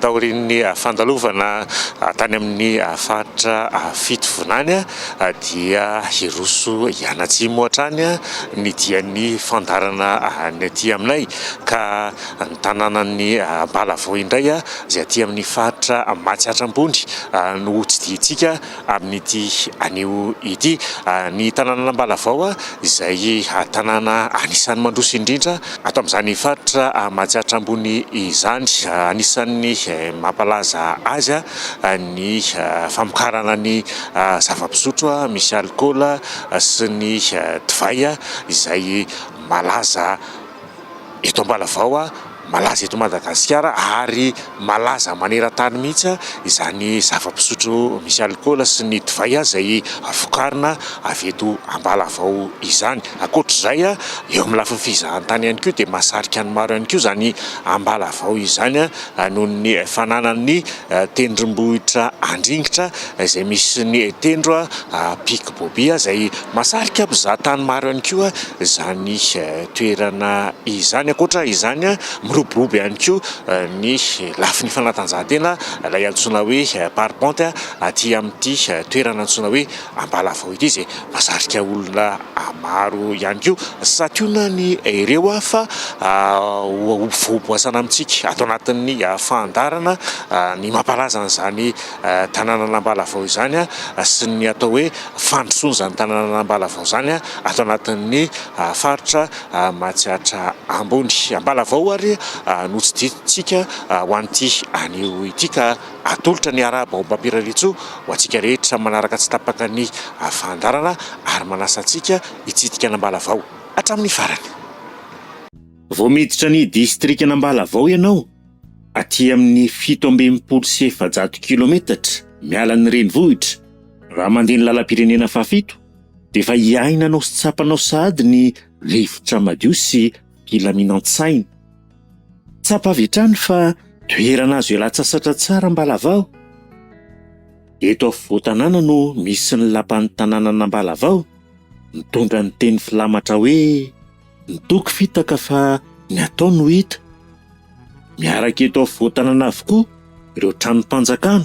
taorian'ny fandalovana tany amin'ny faritra Fitovinany dia hiroso hianatsimo hatrany ny dian'ny fandaharana ny aty aminay ka ny tanànan'ny Ambalavao indray izay aty amin'ny faritra Matsiatra Ambony no hotsidihitsika amin'ity anio ity. Ny tanànan'Ambalavao izay tanàna anisan'ny mandroso indrindra ato amin'izany faritra Matsiatra Ambony izany. Anisan'ny mampalaza azy ny famokarana ny zava-pisotro misy alikaola sy ny divay izay malaza. Eto Ambalavao, malaza eto Madagasikara ary malaza maneran-tany mihitsy izany zava-pisotro misy alikaola sy ny divay izay vokarina avy eto Ambalavao izany. Ankoatra izay, eo amin'ny lafiny fizahantany ihany koa dia mahasarika ny maro ihany koa izany Ambalavao izany noho ny fananany ny tendrombohitra Andringitra izay misy ny tendro Pic Bobia izay mahasarika mpizaha tany maro ihany koa izany toerana izany. Ankoatra izany, miroborobo ihany koa ny lafiny fanatanjahantena ilay antsoina hoe parpente aty amin'ity toerana antsoina hoe. Ambalavao ity izay mahasarika olona maro ihany koa. Santionany ireo fa ho voaboasana amintsika ato anatin'ny fandaharana ny mampalaza an'izany tanànan'Ambalavao izany sy ny atao hoe fandrosoana izany tanànan'Ambalavao izany ato anatin'ny faritra Matsiatra Ambony. Ambalavao ary notsidihitsika ho an'ity anio ity ka. Atolotra ny Araha Baobab Irarisoa ho antsika rehetra samy manaraka tsy tapaka ny fandaharana ary manasa antsika hitsidika an'Ambalavao hatramin'ny farany. Vao miditra ny distrikan'Ambalavao ianao, aty amin'ny fito amby enimpolo sy efajato kilometatra miala ny renivohitra, raha mandeha ny lalam-pirenena fahafito, dia efa iainanao sy tsapanao sahady ny rivotra madio sy filaminan-tsaina. Tsapa avy hatrany fa toerana azo ialatsasatra tsara Ambalavao. Eto afovoan-tanàna no misy ny lapan'ny tanànan'Ambalavao, mitondra ny teny filamatra hoe Ny toky fitaka fa ny atao no hita. Miaraka eto afovoan-tanàna avokoa ireo tranom-panjakana.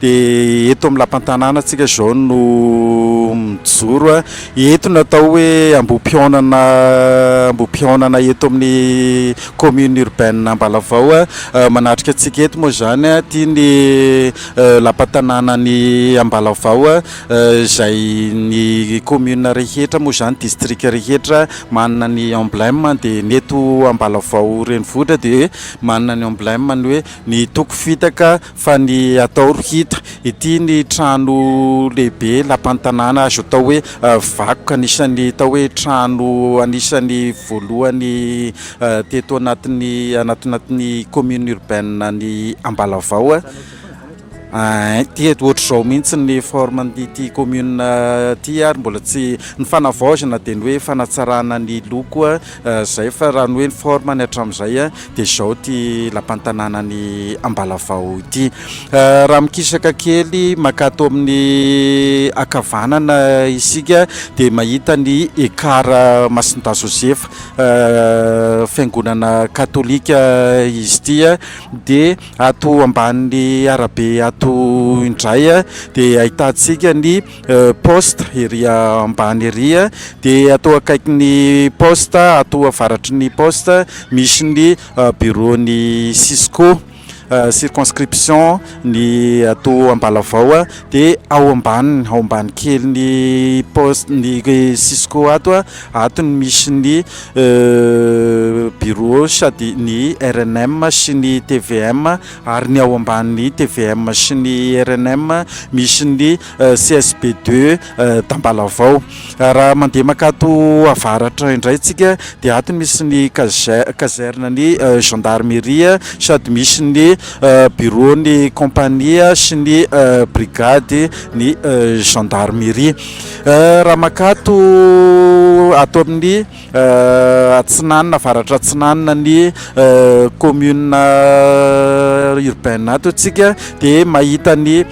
Dia eto amin'ny lapantanàna antsika izao no mijoro. Eto no atao hoe ambohim-pihaonana ambohim-pihaonana eto amin'ny commune urbaine Ambalavao. Manatrika antsika eto moa izany aty ny lapantanànan'i Ambalavao izay ny commune rehetra moa izany, district rehetra manana ny emblème dia ny eto Ambalavao renivohitra dia manana ny emblème ny hoe ny toko fitaka Fa ny atao ry hita. Ity ny trano lehibe lapan'ny tanàna azo atao hoe vakoka. Anisan'ny atao hoe trano anisan'ny voalohany teto anatin'ny anatin'ny commune urbaine ny Ambalavao. Ity ohatr'izao mihitsy ny forme ity commune ity ary mbola tsy, ny fanavaozana dia ny hoe fanatsarana ny loko. Zay fa raha ny hoe ny forme ny hatramin'izay dia izao ity lapan'ny tanànan'i Ambalavao ity. Raha mikisaka kely mankato amin'ny ankavanana isika dia mahita ny Ekar Masindahy Josefa, fiangonana katolika izy ity. Dia ato ambanin'ny arabe ato indray dia ahitantsika ny. Poste ery ambany ery dia toa akaikin'ny poste ato avaratry ny poste misy ny bureau ny cisco circonscription ny ato Ambalavao dia ao ambaniny ao ambany kely ny poste ny cisco ato ato no misy ny bureau sady ny rnm sy ny tvm ary ny ao ambanin'ny tvm sy ny rnm misy ny CSB deux d'Ambalavao. Raha mandeha mankato avaratra indray tsika dia ato misy ny caserne ny gendarmerie sady misy ny bureau ny compagnie sy ny brigade ny gendarmerie. Raha mankato ato amin'ny. Atsinanana, Avaratra Atsinanana, ny commune urbaine ato isika dia mahita ny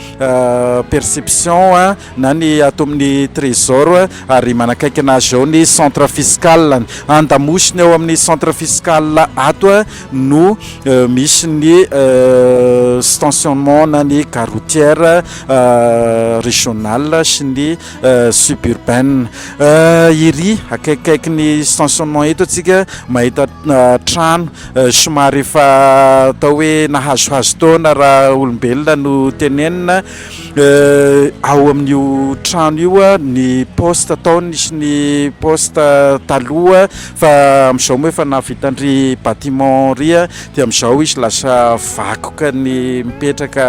perception na ny ato amin'ny trésor ary manakaikina azy ao ny centre fiscal, an-damosiny ao amin'ny centre fiscal ato no misy ny stationnement na ny gare routière régionale sy ny Euh, suburbaine euh, iry akaikikaiky ny stationnement eto atsika mahita euh, trano somary efa atao hoe nahazohazo taona raha olombelona no tenenina ao amin'io trano io a ny poste ataony sy ny poste taloha fa am'izao moa efa nahavitanry batiment ry a de am'izao izy lasa vakoka ny mipetraka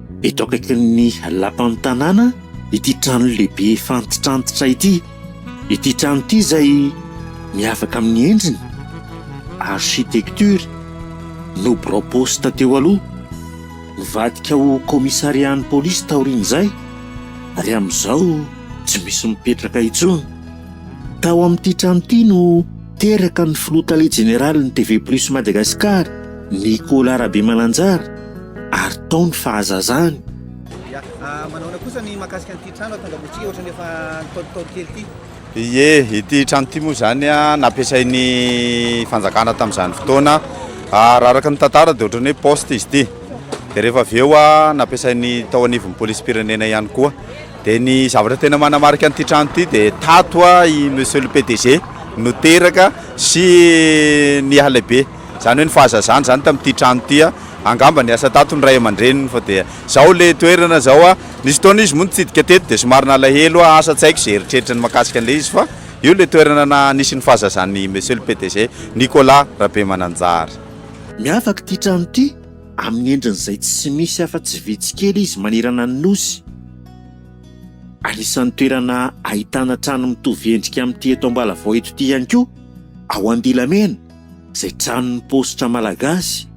Eto akaikin'ny lapan'ny tanàna ity trano lehibe efa antitrantitra ity. Ity trano ity izay miavaka amin'ny endriny, architecture, no birao poste teo aloha. Nivadika ho commissariat-n'ny polisy taorian'izay ary amin'izao tsy misy mipetraka intsony. Tao amin'ity trano ity no. teraka ny filoha tale jeneralin'ny TV Plus Madagascar, Nicolas Rabemananjara ary tao ny fahazazany. Ya, manahoana kosa ny mahakasika an'ity trano ato Angambohitsiky ohatrany efa ntaolontaolo kely ity? Ie, ity trano ity moa izany nampiasain'ny fanjakana tamin'izany fotoana, raha araka ny tantara dia ohatrany hoe poste izy ity, dia rehefa avy eo nampiasain'ny tao anivon'ny polisim-pirenena ihany koa. Dia ny zavatra tena manamarika an'ity trano ity dia tato i Monsieur le PDG no teraka sy niha-lehibe. Izany hoe ny fahazazany izany tamin'ity trano ity. Angamba niasa tato ny ray aman-dreniny fa dia izao ilay toerana izao. Nisy fotoana izy moa nitsidika teto dia somary nalahelo aho asa tsy haiko izay eritreritriny mahakasika an'ilay izy fa io ilay toerana na nisy ny fahazazan'i Monsieur le PDG Nicolas Rabemananjary. Miavaka ity trano ity. Amin'ny endriny izay tsy misy afa-tsy vitsy kely izy manerana ny Nosy. Anisan'ny toerana ahitana trano mitovy endrika amin'ity eto Ambalavao eto ity ihany koa, ao Andilamena, izay tranon'ny paositra malagasy.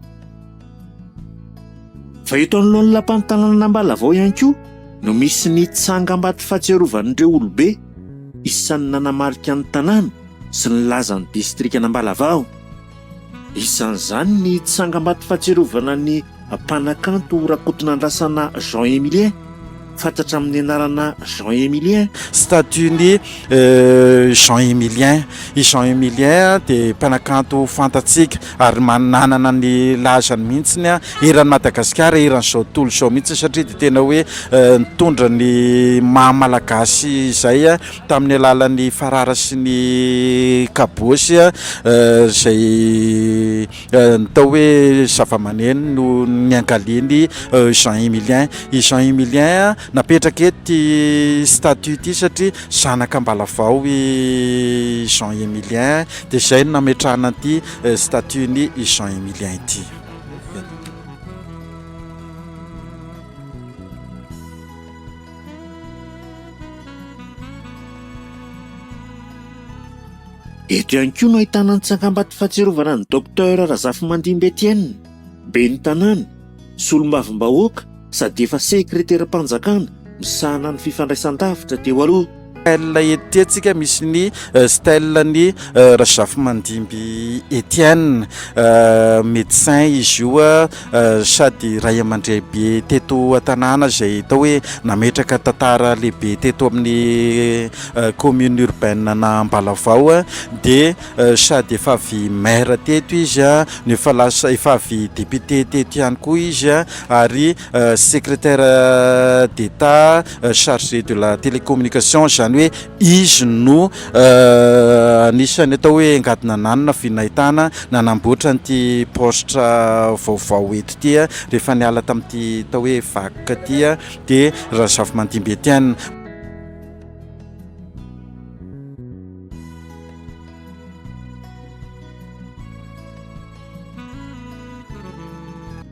Fa eto anoloan'ny Lapan'ny tanànan'Ambalavao ihany koa no misy ny tsangambato fahatsiarovan'ireo olobe isan'ny nanamarika ny tanàna sy nilaza ny distrikan'Ambalavao. Isan'izany ny tsangambato fahatsiarovana ny mpanakanto Rakotonandrasana Jean Emilien, fantatra amin'ny anarana Jean Emilien, Statue n'i Jean Emilien. I Jean Emilien dia mpanakanto fantatsika ary nanana ny lazany mihitsy eran'i Madagasikara, eran'izao tontolo izao mihitsy satria dia tena hoe nitondra ny maha-malagasy izay tamin'ny alalan'ny farara sy ny kabôsy izay natao hoe zavamaneno no niangalian'i Jean Emilien. I Jean Emilien napetraka eto ity statue ity satria zanaka Ambalavao i Jean Emilien dia izay no nametrahana an'ity statue-n'i Jean Emilien ity. Eto ihany koa no ahitana ny tsangambato fahatsiarovana an'i Docteur Razafimandimby Etienne, ben'ny tanàna, solombavambahoaka sady efa sekreteram-panjakana misahana ny fifandraisan-davitra teo aloha. Style ety antsika misy ny euh, style ny euh, Razafimandimby Etienne euh, médecin izy io sady ray aman-drehibe teto an-tanàna izay atao hoe nametraka tantara lehibe teto amin'ny commune urbaine na Ambalavao dia sady efa avy maire teto izy no efa lasa efa avy député teto ihany koa izy ary Secrétaire d'Etat chargé de la télécommunication, izany hoe izy no anisan'ny atao hoe engadina nanana vy nahitana nanamboatra an'ity paositra vaovao eto ity rehefa niala tamin'ity atao hoe vac ity dia Razafimandimby Etienne.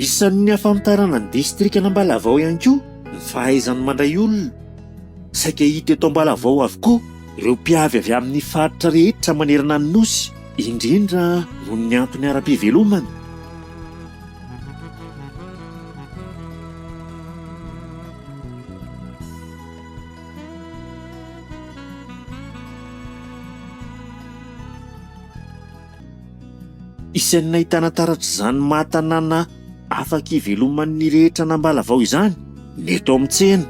Isan'ny ahafantarana ny distrikan'Ambalavao ihany koa ny fahaizany mandray olona. Saika hita eto Ambalavao avokoa ireo mpiavy avy amin'ny faritra rehetra manerana ny Nosy indrindra noho ny antony ara-pivelomana. Isan'ny nahitana taratra izany maha tanàna. Afaka iveloman'ny rehetra an'Ambalavao izany ny eto amin'ny tsena.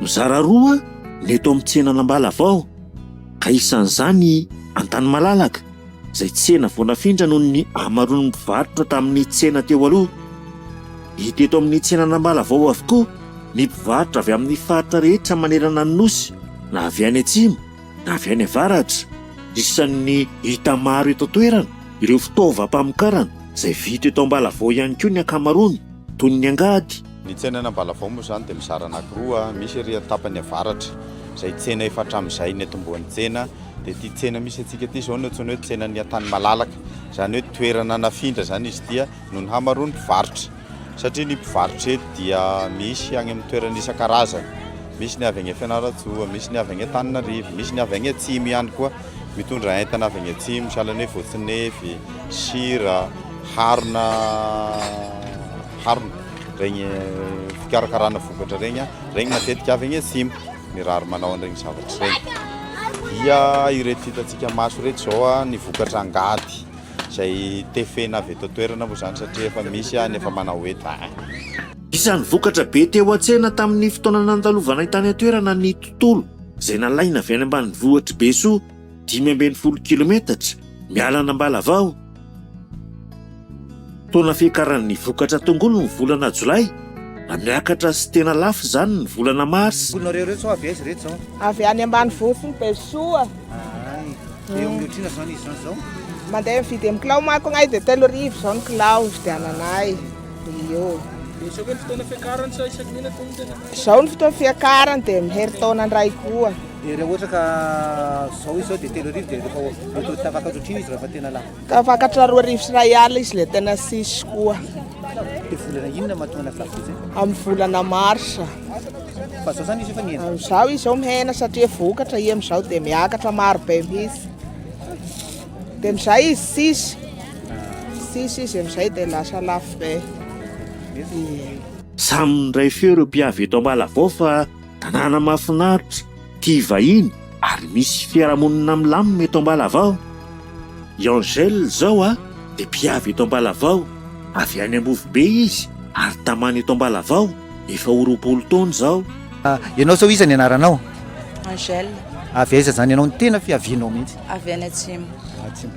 Mizara roa ny eto amin'ny tsenan'Ambalavao ka isan'izany i Antanimalalaka izay tsena vao nafindra noho ny hamaroan'ny mpivarotra tamin'ny tsena teo aloha. Hita eto amin'ny tsenan'Ambalavao avokoa ny mpivarotra avy amin'ny faritra rehetra manerana ny Nosy na avy any atsimo na avy any avaratra. Isan'ny hita maro eto an-toerana ireo fitaovam-pamokarana izay vita eto Ambalavao ihany koa ny ankamaroany, toy ny angady. Ny tsenan'i Ambalavao moa izany dia mizara anankiroa, misy ery an-tapany avaratra izay tsena efa hatramin'izay niantombohan'ny tsena, dia ity tsena misy antsika ity izao no antsoina hoe tsenan'ny Antanimalalaka, izany hoe toerana nafindra izany izy ity. noho ny hamaroan'ny mpivarotra satria ny mpivarotra eto dia misy any amin'ny toerana isan-karazany misy ny avy any Fianarantsoa misy ny avy any Antananarivo misy ny avy any Atsimo ihany koa mitondra entana avy any Atsimo sahala ny voatsinefy sira harona harona regny fikarakarana vokatra regny regny matetika avy any Atsimo ny rary manao an'iregny zavatra iregny dia ireto hitantsika maso ireto izao ny vokatra angady izay tefena avy eto an-toerana moa izany satria efa misy any efa manao eto a. Isan'ny vokatra be teo an-tsena tamin'ny fotoana nandalovanay tany an-toerana ny tontolo izay nalaina avy any ambanivohitr'i Besoa, dimy ambin'ny folo kilometatra miala an'Ambalavao. Fotoana fiakaran'ny vokatra tongolo ny volana jolay, na miakatra sy tena lafo izany ny volana marsa. Amboninareo iretsy avy aiza iretsy zao? Avy any ambanivohitry ny Besoa. Ahay. Dia eo amin'ny ohatrina izao ny essence zao? Mandeha mividy amin'ny kilao manko anay dia telo arivo izao ny kilao ividiananay. Io. Dia izao ve ny fotoana fiakarany sa isaky ny inona tena? Izao ny fotoana fiakarany dia amin'ny herintaona indray koa. Dia raha ohatra ka izao izy sao dia telo arivo dia rehefa efa tapaka ohatr'io izy raha efa tena lafo. Ka vakatra roa arivo sy iray alina izy le tena sisy koa. De volana inona mahatonga an'azy lafo vidy zay? Amin'ny volana marsa. Fa zao zany izy efa nihena? Amin'izao izy zao mihena satria vokatra i amin'izao dia miakatra maro be mihitsy. Dia amin'izay izy sisy. Sisy izy amin'izay dia lasa lafo be. Samy miray feo ireo mpiavy eto Ambalavao fa tanàna mahafinaritra. tia vahiny ary misy fiarahamonina milamina eto Ambalavao. I Angèle izao a, dia mpiavy eto Ambalavao, avy any Ambovobe izy ary tamana eto Ambalavao efa ho roapolo taona izao. Ianao izao iza ny anaranao? Angèle. Avy aiza izany ianao? Ny tena fiavianao mihitsy? Avy any atsimo,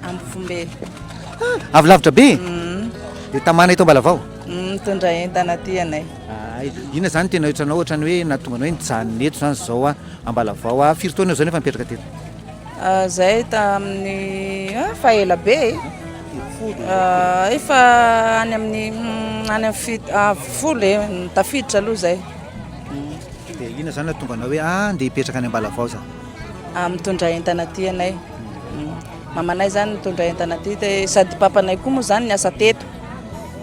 Ambovombe. Avy lavitra be e? Dia tamana eto Ambalavao? Mitondra entana aty ianay. Hay, inona izany tena ohatranao ohatrany hoe nahatonga anao hoe nijanona eto izany izao aho, Ambalavao aho. Firy taona eo izao no efa nipetraka teto? Izahay tamin'ny efa ela be e, efa any amin'ny any amin'ny fito folo e, tafiditra aloha izay. Dia inona izany nahatonga anao hoe ah, ndeha hipetraka any Ambalavao za? Mitondra entana aty ianay, mamanay izany nitondra entana aty, dia sady papanay koa moa izany niasa teto,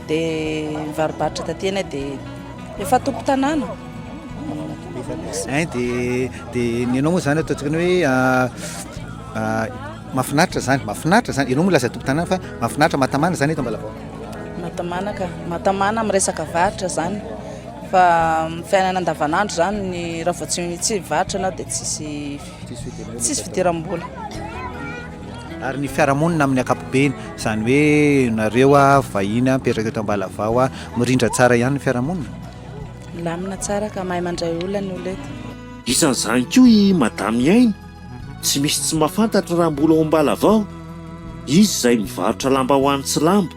dia mivarobarotra taty eny dia efa tompo tanàna eh, dia dia ny anao moa zany ataontsika ny hoe ah, ah, mafinaritra zany mafinaritra zany ianao moa laza tompo tanàna fa mafinaritra matamana zany eto mbalabao matamana ka matamana amin'ny resaka varotra zany fa fiainana andavanandro zany ny raha vao tsy tsy varotra anao dia tsisy Tsisy fidiram-bola. Ary ny fiarahamonina amin'ny ankapobeny, izany hoe nareo vahiny mipetraka eto Ambalavao, mirindra tsara ihany ny fiarahamonina? Milamina tsara ka mahay mandray olona ny olona eto. Isan'izany koa i Madame Iaino, tsy misy tsy mahafantatra raha mbola ao Ambalavao, izy izay mivarotra lambahoany sy lamba.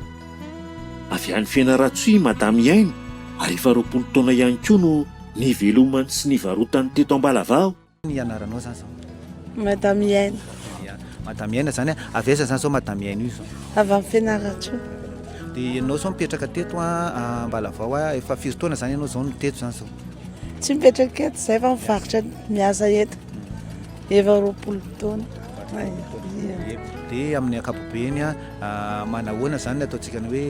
Avy any Fianarantsoa i Madame Iaino ary efa roapolo taona ihany koa no nivelomany sy nivarotany teto Ambalavao. Ny anaranao zany zao? Madame Iaina. Madame Iaina zany a, avy aiza zany zao Madame Iaina io zao? Avy amin'ny Fianarantsoa. Dia ianao zao mipetraka teto a, Ambalavao a, efa firy taona zany ianao zao no teto zany zao? Tsy mipetraka eto zay fa mivarotra miasa eto, efa roapolo taona. Dia amin'ny ankapobeny a, manahoana zany ny ataontsika ny hoe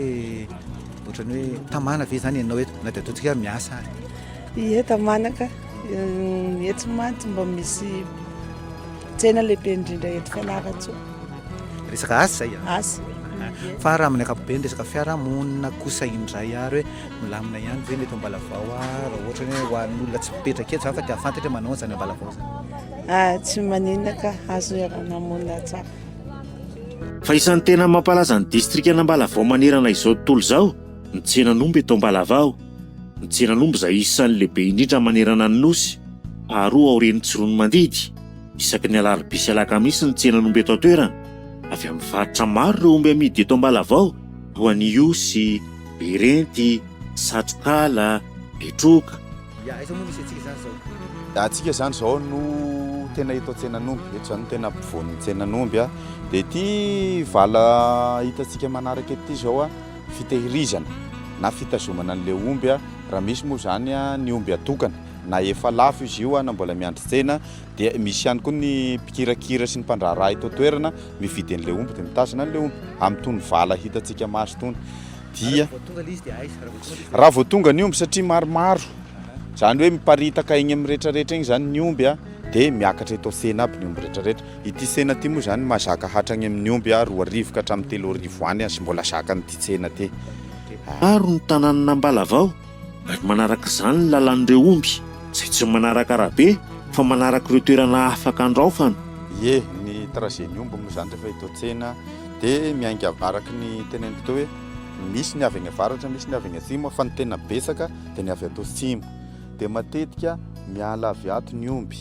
ohatran'ny hoe tamana ve zany ianao eto na dia ataontsika hoe miasa ary? Ie tamana ka. Eto mantsy mba misy tsena lehibe indrindra eto Fianarantsoa. Resaka asa izay ah? Asa. Fa raha amin'ny ankapobeny resaka fiarahamonina kosa indray ary hoe milamina ihany ve ny eto Ambalavao ah? Raha ohatra hoe ho an'ny olona tsy mipetraka eto izany fa te hahafantatra hoe manao an'izany Ambalavao izany. Ah, tsy maninona ka, azo iaraha-namonina tsara. Fa isan'ny tena mampalaza ny distrikan'Ambalavao manerana izao tontolo izao ny tsenan'omby eto Ambalavao. Ny tsenan'omby izay isan'ny lehibe indrindra manerana ny Nosy, faharoa aorian'ny Tsiroanomandidy. Isaky ny alarobia sy alakamisy ny tsenan'omby eto an-toerana. Avy amin'ny faritra maro ireo omby amidy eto Ambalavao, toa an'i Ihosy, Berenty, Satrokala, Betroka. Ya, aiza moa misy antsika izany izao? Antsika izany izao no tena eto an-tsenan'omby, eto izany no tena ampovoan'ny tsenan'omby dia ity vala hitantsika manaraka ity izao. fitehirizana na fitazomana an'ilay omby raha misy moa izany ny omby atokana na efa lafo izy io na mbola miandry tsena dia misy ihany koa ny mpikirakira sy ny mpandraharaha eto an-toerana mividy an'ilay omby dia mitazona an'ilay omby amin'itony vala hitantsika maso itony dia raha vao tonga ny omby satria maromaro izany hoe miparitaka egny amin'ny rehetrarehetra egny izany ny omby dia miakatra eto an-tsena aby ny omby rehetrarehetra Ity tsena ity moa izany mahazaka hatrany amin'ny omby a roa arivo ka hatramin'ny telo arivo any aza mbola zakan'ity tsena ity a. Maro ny tanànan'Ambalavao ary manaraka izany ny lalàn'ireo omby izay tsy manaraka arabe fa manaraka ireo toerana afaka andraofana. Ie, ny trajet-n'ny omby moa izany rehefa eto an-tsena dia miainga araky ny teneniko teo hoe misy ny avy any avaratra, misy ny avy any atsimo fa ny tena betsaka dia ny avy ato atsimo. dia matetika miala avy ato ny omby.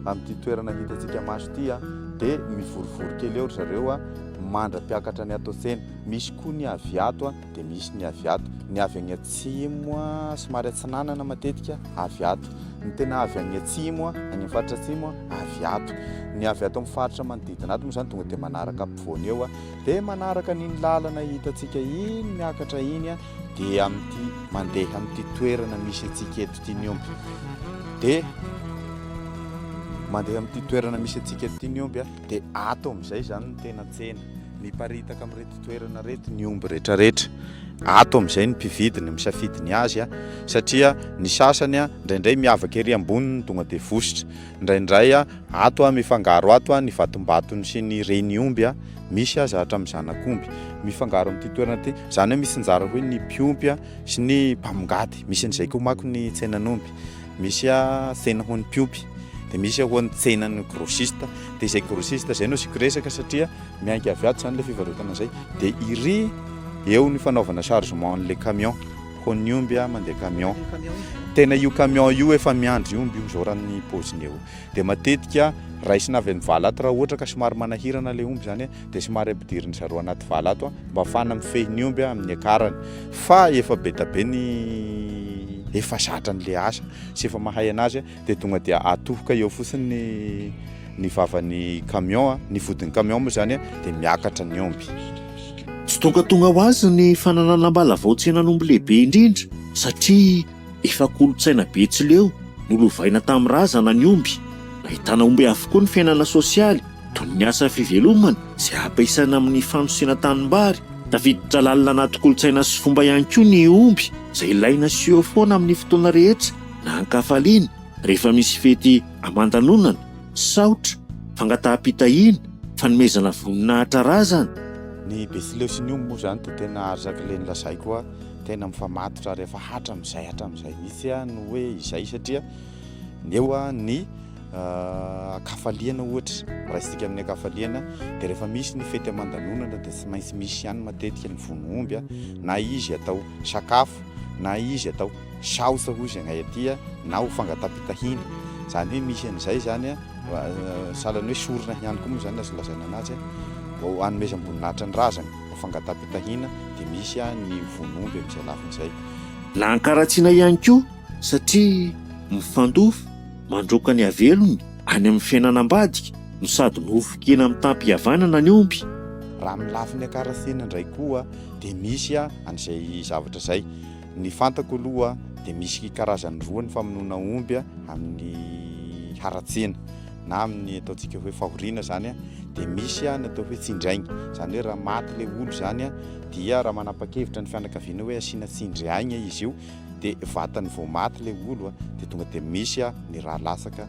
Amin'ity toerana hitantsika maso ity dia mivorivory kely eo ry zareo mandra-piakatra ny ato an-tsena. Misy koa ny avy ato dia misy ny avy ato. Ny avy any atsimo somary atsinanana matetika avy ato. Ny tena avy any atsimo, any amin'ny faritra atsimo avy ato. Ny avy ato amin'ny faritra manodidina ato moa izany tonga dia manaraka ampovoany eo dia manaraka an'iny lalana hitantsika iny miakatra iny. dia amin'ity mandeha amin'ity toerana misy antsika eto ity ny omby dia mandeha amin'ity toerana misy antsika eto ity ny omby a dia ato amin'izay izany ny tena tsena miparitaka amin'ireto toerana reto ny omby rehetrarehetra ato amin'izay ny mpividy ny misafidy ny azy a satria ny sasany a indraindray miavaka ery amboniny tonga dia vositra Indraindray ato mifangaro ato ny vatombatony sy ny reniomby, misy aza hatramin'ny zanak'omby mifangaro amin'ity toerana ity. Izany hoe misinjara koa ny mpiompy sy ny mpamongady. Misy an'izay koa manko ny tsenan'omby. Misy tsena ho an'ny mpiompy, dia misy ho an'ny tsenan'ny grossiste. Dia izay grossiste izay no asiako resaka satria miainga avy ato izany ilay fivarotana izay. Dia iry, eo ny fanaovana chargement an'ilay camion. Koa ny omby a mandeha camion. Tena io camion io efa miandry omby io zao raha ny pôziny eo. Dia matetika raisina avy amin'ny vala ato raha ohatra ka somary manahirana ilay omby izany dia somary ampidirin'ny zareo anaty vala ato mba hahafahana mifehy ny omby amin'ny akarany. Fa efa be dia be ny efa zatra an'ilay asa sy efa mahay anazy. dia tonga dia atohoka eo fotsiny ny ny vavan'ny camion, ny vodin'ny camion moa izany dia miakatra ny omby. Tsy tonga tonga ho azy ny fananana am-balavao tsenan'omby lehibe indrindra satria efa kolontsaina betsileo nolovaina tamin'ny razana ny omby. Nahitana omby avokoa ny fiainana sosialy toy ny asa fivelomana izay ampiasaina amin'ny fanosena tanimbary. Tafiditra lalina anaty kolontsaina sy fomba ihany koa ny omby izay ilaina sy eo foana amin'ny fotoana rehetra. na an-kafaliana rehefa misy fety aman-danonana, saotra, fangataham-pitahiana, fanomezana voninahitra razana. Ny Betsileo sy ny omby moa izany dia tena arzaky le nolazaiko hoe tena mifamatotra ary efa hatramin'izay hatramin'izay mihitsy no hoe izay satria ny eo ny an-kafaliana ohatra, raisintsika amin'ny an-kafaliana dia rehefa misy ny fety aman-danonana dia tsy maintsy misy ihany matetika ny vono omby na izy atao sakafo na izy atao South hoy izay anay aty na ho fangataham-pitahiana. Izany hoe misy an'izay izany a, sahalan'ny hoe sorona ihany koa moa izany ny azo lazaina anazy vao hanomezam-boninahitra ny razana. Ho fangataham-pitahiana dia misy ny ho vono omby amin'izay lafiny izay. Na ankaratsiana ihany koa satria mifandofy mandroaka ny havelony any amin'ny fiainana ambadika no sady nofon-kena mitam-pihavanana ny omby. Raha amin'ny lafiny ankaratsiana indray koa dia misy an'izay zavatra izay. Ny fantako aloha dia misy karazany roa ny famonoana omby amin'ny haratsiana na amin'ny ataontsika hoe fahoriana zany a, dia misy a ny atao hoe tsindraigny, zany hoe raha maty le olo zany a dia raha manapa-kevitra ny fianakaviana hoe asiana tsindry aigna izy io dia vatany vao maty le olo a dia tonga dia misy a ny rà latsaka.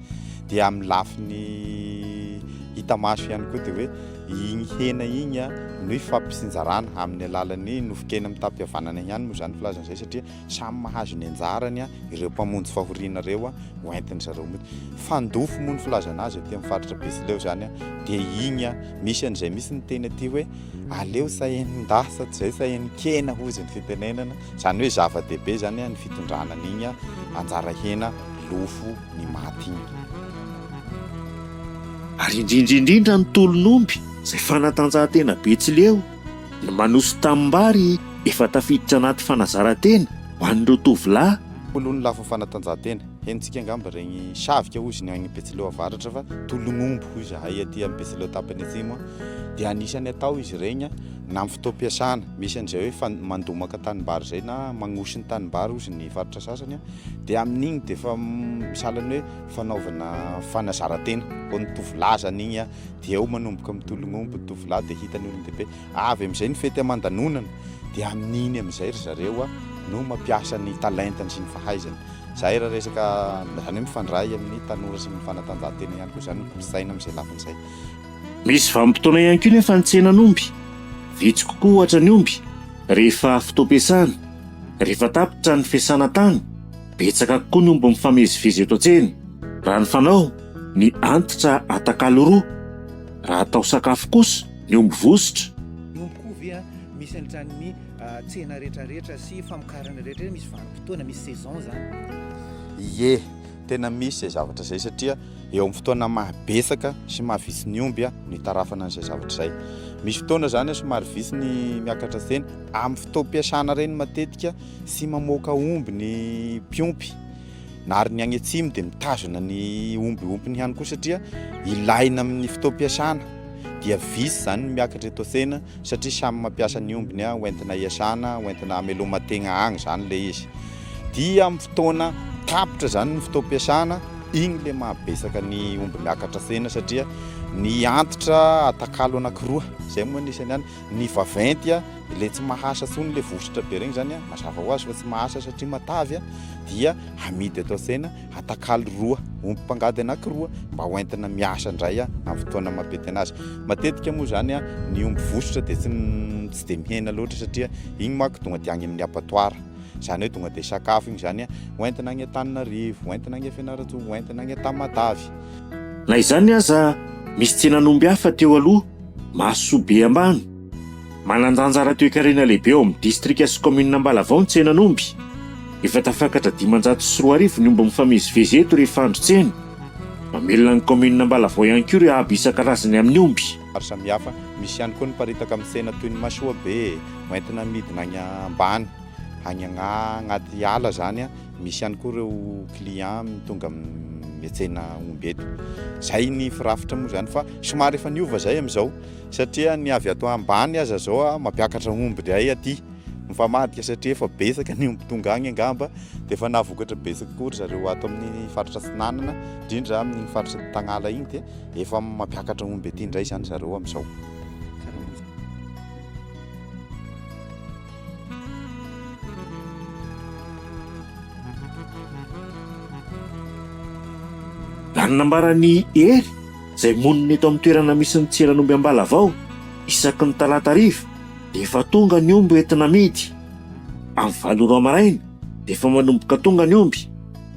dia amin'ny lafiny hita maso ihany koa dia hoe igny hena igny a no ifampisinjarana amin'ny alalan'ny nofon-kena mitam-pihavanana ihany moa izany filazana izay satria samy mahazo ny anjarany a ireo mpamonjy fahoriana ireo a ho entin'ny zareo mody fandofo moa ny filazana azy aty amin'ny faritra Betsileo izany a dia igny a misy an'izay misy ny teny aty hoe aleo sahenin-dahy sa tsy izay sahenin-kena hozy ny fitenenana izany hoe zava-dehibe izany a ny fitondrana an'igny a anjara hena lofo ny maty iny. Ary indrindra indrindra ny tolon'omby izay fanatanjahantena Betsileo no manoso tanimbary efa tafiditra anaty fanazarantena ho an'ireo tovolahy, Tolon'ny lafiny fanatanjahantena. Henontsika angamba regny savika hozy ny agny Betsileo avaratra fa tolon'omby hoy zahay aty am Betsileo tapany atsimo a dia anisany atao izy regny na am fotoam-piasana misy an'izay hoe mandomaka tanimbary izay na magnoso ny tanimbary hozy ny faritra sasany a. Dia amin'igny dia efa sahala ny hoe fanaovana fanazaran-tena ho an'ny tovolahy izany igny an, dia eo manomboka mitologna omby ny tovolahy dia hita ny olon-dehibe. Avy amin'izay ny fety aman-danonana, dia amin'iny amin'izay ry zareo an no mampiasa ny talentany sy ny fahaizany. Izay raha resaka, izany hoe mifandray amin'ny tanora sy ny fanatanjahantena ihany koa izany ny kolontsaina amin'izay lafiny izay. Misy vanim-potoana ihany koa nefa ny tsenan'omby. Vitsy kokoa ohatra ny omby rehefa fotoam-piasana. Rehefa tapitra ny fiasana tany, betsaka kokoa ny omby mifamezivezy eto an-tsena. Raha ny fanao, ny antitra atakalo roa. Raha atao sakafo kosa ny omby vositra. Ny omby koa ve an, misy an'izany ny tsena rehetra rehetra sy famokarana rehetra rehetra misy vanim-potoana, misy saison zany. Ie, Tena misy izay zavatra izay satria eo amin'ny fotoana maha betsaka sy maha vitsy ny omby no itarafana an'izay zavatra izay. Misy fotoana izany somary vitsy ny miakatra tsena. Amin'ny fotoam-piasana ireny matetika tsy mamoaka omby ny mpiompy na ary ny any atsimo dia mitazona ny omby ompiny ihany koa satria ilaina amin'ny fotoam-piasana dia vitsy izany ny miakatra eto an-tsena. satria samy mampiasa ny ombiny ho entina hiasana, ho entina hameloma-tegna agny zany le izy. Dia amin'ny fotoana tapitra zany ny fotoam-piasana, igny le mahabetsaka ny omby miakatra tegna satria ny antitra atakalo anakiroa, zay moa ny isan'ny any. Ny vaventy a, le tsy mahasa tsony le vositra be regny zany a, mazava ho azy fa tsy mahasa satria matavy a, dia amidy eto an-tsena. atakalo roa, omby mpangady anankiroa mba ho entina miasa indray amin'ny fotoana maha be tena azy. Matetika moa izany ny omby vosotra dia tsy tsy dia mihena loatra satria igny manko tonga dia any amin'ny abattoir. Izany hoe tonga dia sakafo igny izany ho entina any Antananarivo, ho entina any Fianarantsoa, ho entina any Tamatave. Na izany aza, misy tsenan'omby hafa teo aloha, mahasoa be ambany. Manan-danja ara-toekarena lehibe ao amin'ny distrika sy kaominina Ambalavao ny tsenan'omby. Efa tafakatra dimanjato sy roa arivo ny omby mifamezivezy eto rehefa andro tsena. Mamelona ny kaominina Ambalavao ihany koa ireo haba isan-karazany amin'ny omby. Maro samihafa. Misy ihany koa ny miparitaka amin'ny tsena toy ny masoabe, hoentina amidina any ambany, any agnaty ala izany. Misy ihany koa ireo clients tonga miantsena omby eto. Izay ny firafitra moa izany fa somary efa niova izay amin'izao. Satria ny avy ato ambany aza zao a mampiakatra omby ndray aty mifamadika satria efa betsaka ny omby tonga agny angamba de efa nahavokatra betsaka koa ry zareo ato amin'ny faritra atsinanana indrindra amin'ny faritra tagnala igny de efa mampiakatra omby aty ndray zany zareo amizao Raha ny nambaran'i Hery, izay monina eto amin'ny toerana misy ny tsenan'omby Ambalavao isaky ny talata hariva dia efa tonga ny omby hoentina amidy. Amin'ny valo ora maraina dia efa manomboka tonga ny omby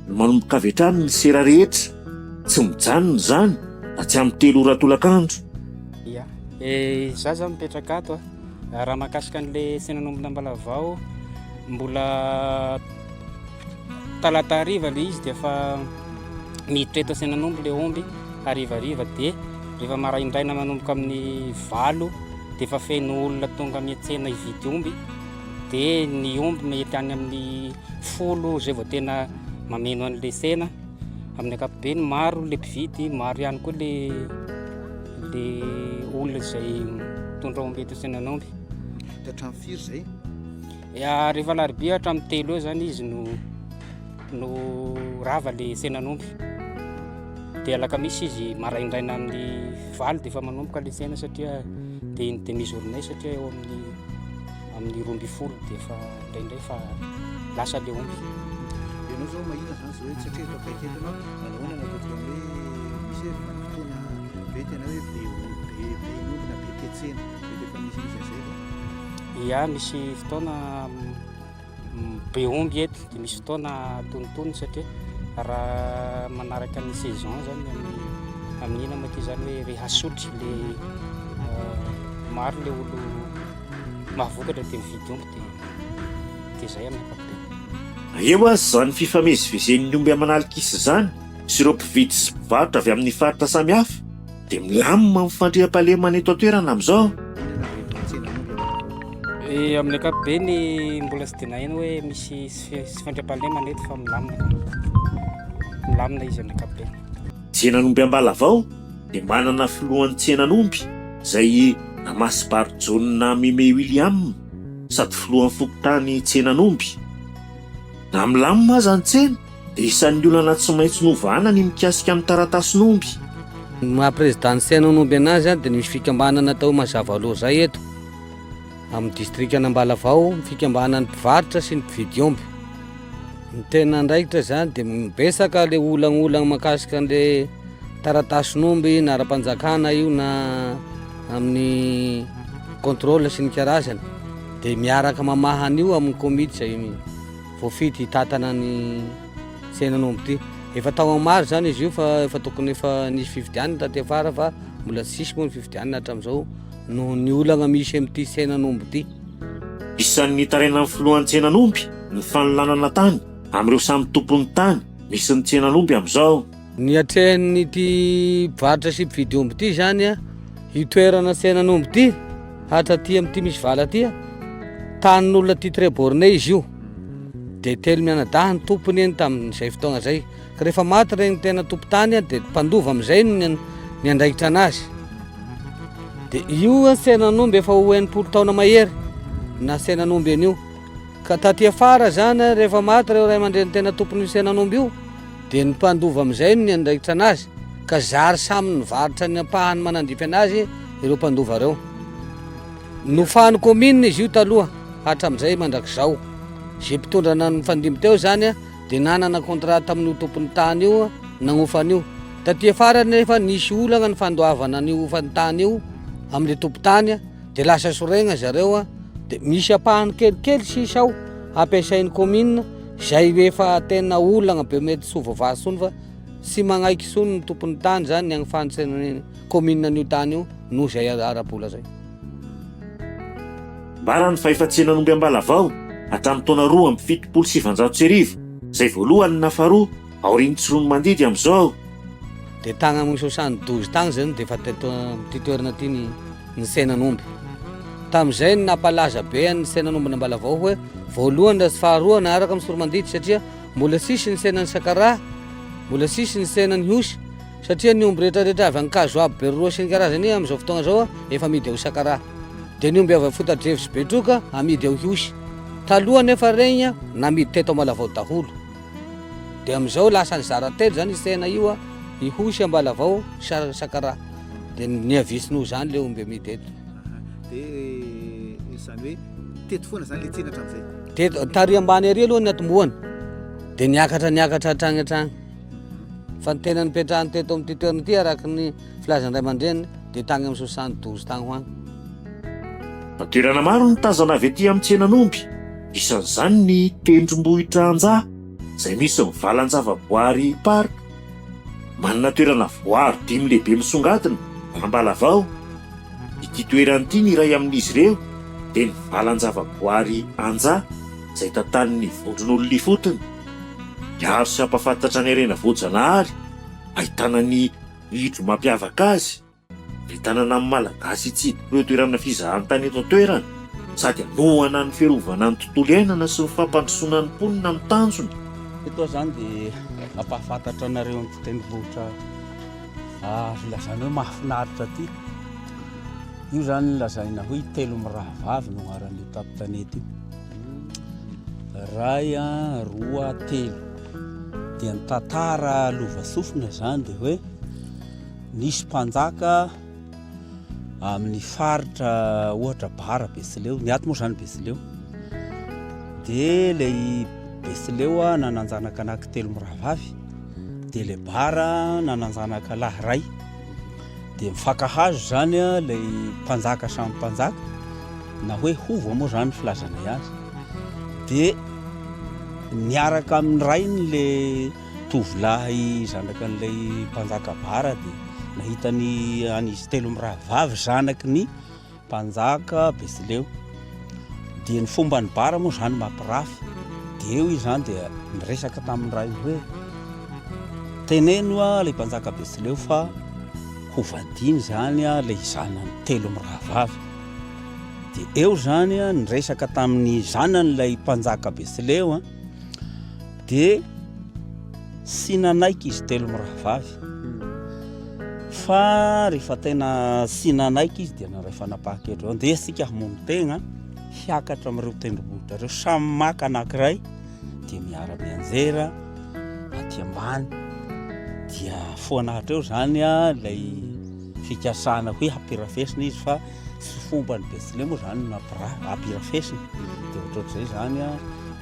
no manomboka avy hatrany ny sera rehetra. Tsy mijanona izany raha tsy amin'ny telo ora tolakandro. Ia, izaho izao mipetraka ato a. Raha mahakasika an'ilay tsenan'ombin'Ambalavao, mbola... Talata hariva ilay izy dia efa miditra eto Antsenanombo ilay omby harivariva dia rehefa maraindraina manomboka amin'ny valo dia efa feno olona tonga miantsena hividy omby dia ny omby mety any amin'ny folo izay vao tena mameno an'ilay sena amin'ny ankapobeny maro ilay mpividy maro ihany koa ilay ilay olona izay mitondra omby eto Antsenanombo. Hatrany firy izay? Rehefa alarobia hatramin'ny telo eo izany izy no no rava ilay tsenan'omby. Dia alakamisy izy maraindraina amin'ny valo dia efa manomboka ilay tsena satria dia iny demi journée satria eo amin'ny amin'ny roa ambin'ny folo dia efa indraindray fa lasa ilay omby. Ianao izao mahita izany izao hoe satria efa akaiky eto ianao, nahoana no ataontsika hoe misy hoe vanim-potoana be tena hoe be omby, be be omby na be ke tsena, dia efa misy misy an'izay ve? Ia, misy fotoana be omby eto, dia misy fotoana tonontonony satria raha manaraka ny saison izany amin'ny amin'ina moa ity zany hoe rehefa asotry le maro le olo mahavokatra dia mividy omby dia dia zay amin'ny ankapobeny. Eo aza izany fifamezivezen'ny omby aman'alin-kisa izany sy ireo mpividy sy mpivarotra avy amin'ny faritra samihafa, Dia milamina ny fandriampahalemana eto an-toerana amin'izao. Amin'ny ankapobeny mbola tsy dia naheno hoe misy sy fandriampahalemana eto fa milamina. Milamina izy amin'ny ankapobeny. Tsenan'omby Ambalavao dia manana filohan'ny tsenan'omby izay i Namasimbary Jaona Mime William sady filohan'ny fokontany Tsenan'omby. Na milamina aza ny tsena Isan'ny olana tsy maintsy novana ny mikasika ny taratasin'omby. Ny maha prezidan'ny Senon'omby anazy dia nisy fikambanana tao Mazavaloza eto amin'ny distrikan'Ambalavao, ny fikambanan'ny mpivarotra sy ny mpividy omby. Ny tena andraikitra izany dia mibesaka ilay olagnola makasika an'ilay taratasin'omby na ara-panjakana io na amin'ny contrôle sy ny karazany dia miaraka mamaha an'io amin'ny komity izay Voafidy hitantana ny tsenan'omby ity. Efa tao amin'ny maro izany izy io fa efa tokony efa nisy fifidianana taty afara fa mbola tsy nisy moa ny fifidianana hatramin'izao noho ny olana misy amin'ity tsenan'omby ity. Isan'ny nitarainan'ny filohan'ny tsenan'omby ny fanolanana tany amin'ireo samy tompon'ny tany misy ny tsenan'omby amin'izao. Ny atrehin'ity mpivarotra sy mpividy omby ity izany a, io toerana tsenan'omby ity, hatra aty amin'ity misy vala aty a, tanin'olona aty Trebornay izy io. Dia telo mianadahy ny tompony eny tamin'izay fotoagna izay. Ka rehefa maty regny tena tompon-tany a, dia mpandova amin'izay no nian- niandraikitra anazy. Dia io a, tsenan'omby efa ho enimpolo taona mahery na tsenan'omby an'io. Ka taty afara izany a, rehefa maty ireo ray aman-dreny tena tompon'io tsenan'omby io, Dia ny mpandova amin'izay no niandraikitra anazy, ka zary samy nivarotra ny ampahany manandipy anazy ireo mpandova ireo. Nofahan'ny kaominina izy io taloha, hatramin'izay mandrakizao. Izay mpitondra nanana ny fandimby teo izany dia nanana contrat tamin'io tompon'ny tany io nagnofa an'io. Taty afara anefa nisy olagna ny fandoavana an'io hofan-tany io amin'ilay tompon-tany, dia lasa soregna zareo, dia misy ampahany kelikely sisa ao hampiasain'ny kaominina, Izay efa tena olana be mety tsy ho voavaha intsony fa tsy manaiky intsony ny tompon'ny tany izany ny hanifantsina ny commune an'io tany io noho izay ara-bola izay. Ambarany fa efa tsenan'omby Ambalavao hatramin'ny taona roa amby fitopolo sy sivinjato sy arivo izay voalohany na faharoa Aorian'ny tsiroanomandidy amin'izao. Dia tagny amin'ny sosany dozy tagny izay no dia efa teto amin'ity toerana ity ny ny tsenan'omby. Tamin'izay no nampalaza be an'ny tsenan'ombin'Ambalavao hoe voalohany raha tsy faharoa naharaka amin'ny tsiroanomandidy satria mbola tsisy ny tsenan'ny sakaraha, mbola tsisy ny tsenan'ny hosy satria ny omby rehetrarehetra avy Ankazo Abo, Beroroha sy ny karazany amin'izao fotoagna izao efa amidy ao Sakaraha. Dia ny omby avy Amfotadrevo sy Betroka amidy ao Ihosy. Taloha anefa regny namidy teto Ambalavao daholo. Dia amin'izao lasa nizara telo izany izy tena io an, i Hosy Ambalavao sy Charles Sakara. Dia niha-vitsy noho izany ilay omby amidy eto. Dia izany hoe teto foana izany ilay tsena hatramin'izay? Teto, tary ambany ery aloha ny natombohany. Dia niakatra niakatra hatrany hatrany. Fa ny tena nipetrahany teto amin'ity toerana ity araka ny Filazan'ny ray aman-dreniny dia tany amin'ny soixante douze tany ho any. Toerana maro no tazana avy ety amin'ny tsenan'omby, isan'izany ny tendrombohitra Anja izay misy ny valan-javaboary Parc. Manana toerana voaro dimy lehibe misongadina, Ambalavao. Ity toerana ity ny iray amin'izy ireo dia ny valan-javaboary Anja izay tantanin'ny vondron'olona ifotony. Miaro sy hampafantatra ny harena voajanahary ahitana ny. Hevitro mampiavaka azy ny tanana amin'ny Malagasy hitsidika ireo toerana fizahantany eto an-toerana sady hanohana ny fiarovana ny tontolo iainana sy ny fampandrosoana ny mponina amin'ny tanjona Eto izany dia hampahafantatra anareo an'ity tendrombohitra azo lazaina hoe mahafinaritra ity. Io izany lazaina hoe telo mirahavavy no anaran'io tampon-tanety io. Iray an, roa, telo. Dia ny tantara lova sofina izany dia hoe nisy mpanjaka amin'ny faritra ohatra bara Betsileo, ny ato moa izany Betsileo. Dia ilay Betsileo nanan-janaka anaky telo mirahavavy, dia ilay bara nanan-janaka lahy iray. Dia mifankahazo izany ilay mpanjaka samy mpanjaka, na hoe hova moa izany ny filazanay azy. Dia niaraka amin'ny rainy ilay tovolahy zanakan'ilay mpanjaka bara, dia nahita ny an'izy telo mirahavavy zanaky ny Mpanjaka Betsileo. Dia ny fomban'i Bara moa izany mampirafy. Dia eo izy izany dia niresaka tamin'ny rainy hoe, Teneno ilay mpanjaka Betsileo fa hovadiany izany ilay zanany telo mirahavavy. Dia eo izany niresaka tamin'ny zanany ilay mpanjaka Betsileo. Dia Tsy nanaiky izy telo mirahavavy fa rehefa tena tsy nanaiky izy dia naray fanapahan-kevitra hoe ndeha isika hamono tegna hiakatra amin'ireo tendrombohitra ireo samy maka anankiray dia miara-mianjera aty ambany dia foana hatreo izany ilay fikasana hoe hampirafesina izy fa Tsy fomba ny Betsileo moa izany no ampirafesina, dia ohatrohatr'izay izany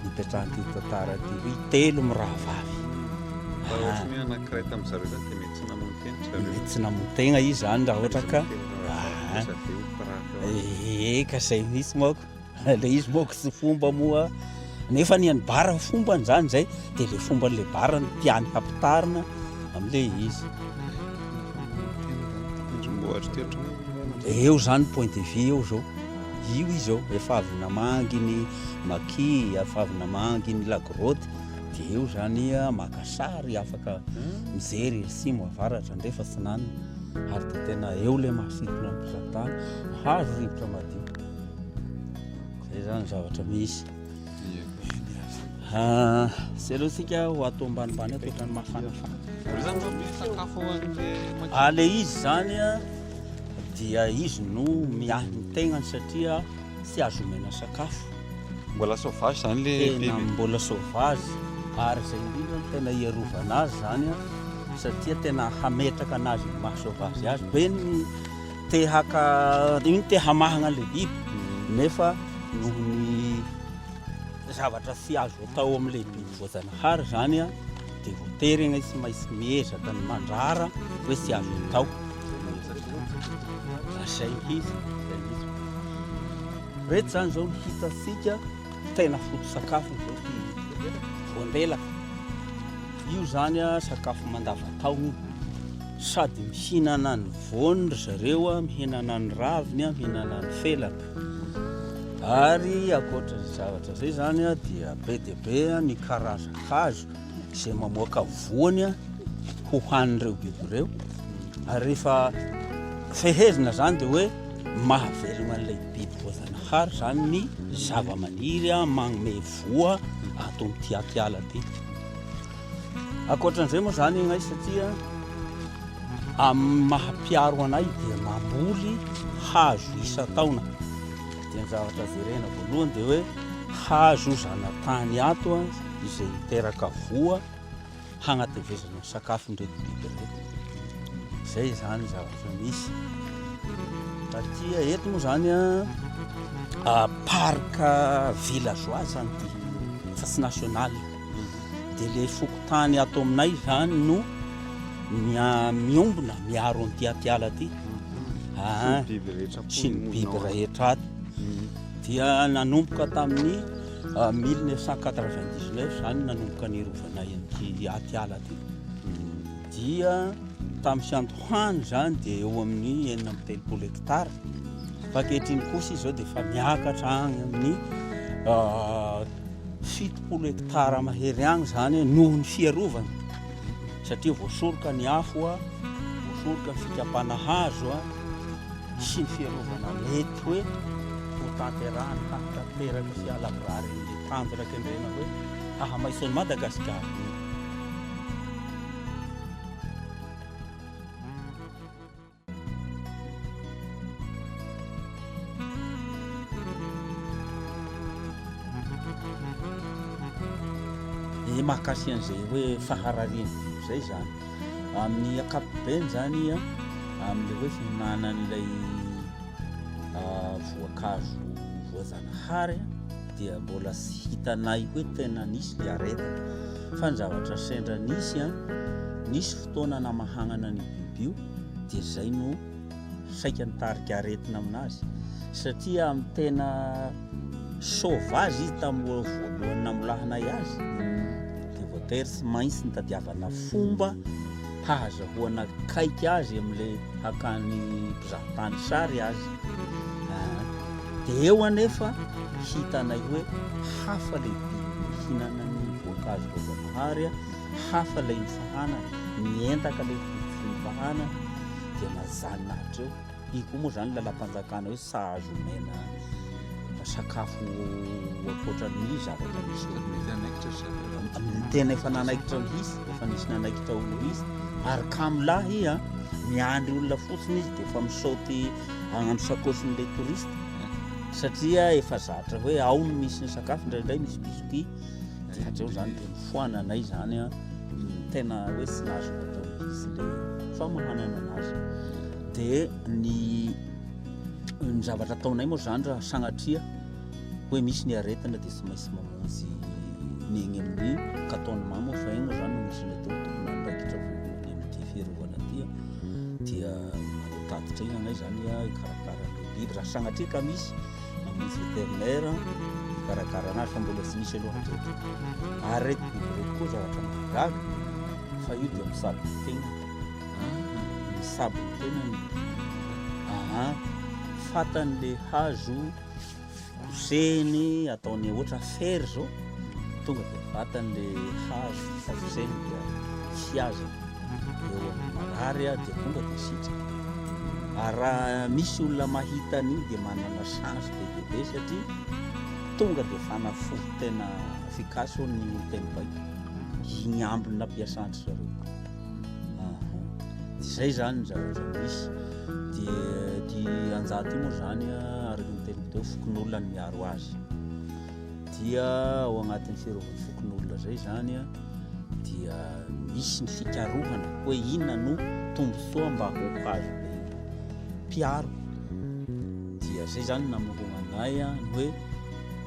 nipetrahan'ity tantara ity hoe telo mirahavavy. Raha ohatra hoe anankiray tamin'ny zareo izany dia mety tsy namono tena ry zareo. Mety tsy namono tena izy izany raha ohatra ka. Dia lasa be ho mpirafy ao aminy. Ee ka izay mihitsy manko. Ilay izy moa tsy fomba moa nefa ny an'ny bara fombany izany izay dia ilay fomban'ilay bara no tiany hampitarina amin'ilay izy. Eo izany point de vue eo izao. Io izy izao efa avy namangy ny maki, efa avy namangy ny lagrotte dia eo izany maka sary afaka mijery simo avaratra andrefa sinanina ary dia tena eo ilay masitona mizatana hazo rivotra madio. Zay zany zavatra misy. Ah, zay aloha sika ho ato ambanimbany ato ohatran'ny mafanafana. Zany zao misy sakafo ao an'le maki- Ah, le izy zany a, dia izy no miahy ny tegnany satria tsy azo omena sakafo. Mbola sauvage zany le Tena biby. mbola sauvage ary zay indrindra no tena iarovana azy zany a, satria tena hametraka anazy ny maha sauvage azy. Be ny Te haka iny te hamahana le biby nefa noho ny zavatra tsy azo atao amin'ilay biby voajanahary zany a dia voatery anie tsy maintsy miezaka ny mandrara hoe tsy azo atao zay mihitsy zay mihitsy reto zany zao ny hitantsika tena foto sakafo zao ty voandelaka io zany a sakafo mandavataona io sady mihinana ny voany ry zareo a, mihinana ny raviny a, mihinana ny felany. Ary ankoatra izay zavatra izay zany a, dia be dia be ny karazan-kazo izay mamoaka voany a, hohanin'ireo biby ireo. Ary rehefa fehezina zany dia hoe mahavelogna an'ilay biby voajanahary zany ny zava-maniry a, magnome voa ato amin'ity atiala ty. Ankoatran'izay moa izany ianay satria amin'ny maha mpiaro anay dia mamboly hazo isan-taona. Dia ny zavatra jerena voalohany dia hoe hazo zanatany ato izay miteraka voa hagnatevezana ny sakafon'ireto biby ireto. Izay izany zavatra misy. Satria eto moa izany parc villageois izany ity fa tsy national. Dia ilay fokontany ato aminay izany no miombona miaro an'ity atiala ity. Ah, sy ny biby rehetra ato. Dia nanomboka tamin'ny 1999 ah, izany nanomboka ny rovana an'ity atiala ity. Dia tamin'ny fiandohany izany dia eo amin'ny enina amby telopolo hektara. Fa ankehitriny kosa izao dia efa miakatra agny amin'ny ah, fitopolo hektara mahery agny zany noho ny fiarovana satria voasoroka ny afo a, voasoroka ny fikapana hazo a, sy ny fiarovana mety hoe ho tanterahany hahatanteraka sy halavorary ny tanjona kendrena hoe hahamaitso an'i Madagasikara. dia mahakasika an'izay hoe faharariana izay zany amin'ny akapobeny zany a amin'le hoe fihinanan'ilay ah, voankazo voazanahary dia mbola sy hitanay hoe tena nisy le areta fa ny zavatra sendra nisy a nisy fotoana namahagnana ny bibio dia izay no saika nitarika aretina aminazy satria amin'ny tena sauvage izy tamin'ny voalohany namolahanay azy dia voatery tsy maintsy nitadiavana fomba hahazahoana kaiky azy amin'ilay hakany mpizahatany sary azy ah, dia eo anefa hitanay hoe hafa lehibe mihinana ny voankazo voajanahary hafa ilay mifahana, mientaka ilay fifahana dia mazanina hatreo. Iny koa moa izany lalam-panjakana hoe sahaza omena sakafo ankoatran'ny zavatra misy eo. Tena efa nanaikitra ho hisy, efa nisy nanaikitra ho hisy. Ary kamolahy a, miandry olona fotsiny izy dia efa misaoty agnano sakôsin'ilay touriste satria efa zatra hoe ao no misy ny sakafo, indraindray misy biscuit. de hatreo zany de mifoana anay zany a tena hoe tsy nahazo atao izy le famohanana anazy de ny ny zavatra ataonay moa zany raha sagnatria hoe misy ny aretina de tsy maintsy mamonjy ny egny amin'ny kataony mamo fa egny moa zany no misy ny atao tokony andraikitra voalohany amity fiarovana aty a dia manotatitra egny anay zany a ikarakara ny biby raha sagnatria ka misy amin'ny vétérinaire hikarakarana azy fa mbola tsy misy aloha hatreto aretina ireto koa zavatra mahagaga fa io dia misabo ny tena misabo ny tenany aa fatany le hazo kosehiny ataony ohatra fery zao tonga dia vatany le hazo fa kosehiny dia fiazana eo amin'ny marary dia tonga dia sitraka. Ary raha misy olona mahita an'io dia manana chance be dia be satria tonga dia fanafody tena efficace hoy ny teny baiko. Igny ambiny nampiasan-dry zareo. Aha. Izay zany ny zavatra misy. Dia ty anjato io moa zany araka ny teniko teo fokonolona ny miaro azy. dia ao agnatin'ny fiarovany fokonolona zay zany a dia misy ny fikarohana hoe inona no tombontsoa mba ho azo mpiaro dia zay zany namoroana anay a ny hoe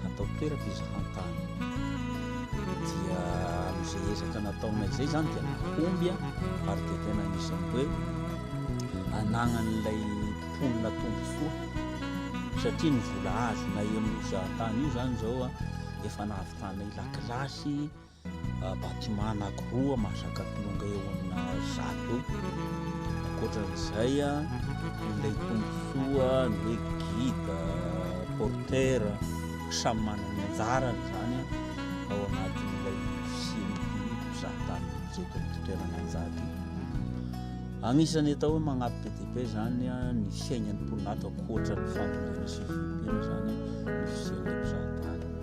atao toerako izy hantany dia am'izay ezaka nataonay zay zany dia nahomby a ary dia tena isan'ny hoe anagnan'ilay mponina tombontsoa satria ny vola azonay amin'io zahatany io zany zao a efa nahavitanay lakilasy bâtiment anakiroa mahazaka kilonga eo amina zato ankoatran'izay a ilay tombontsoa ny hoe guide porter samy manana ny anjarany zany ao anatin'ilay fisian'ity zahatany jeto amin'ny toerana anjady Agnisan'ny atao hoe magnampy be dia be zany ny fiainan'ny mponina ankoatra ny fambolena sy ny fiompiana zany ny fisian'ilay mpizahatany.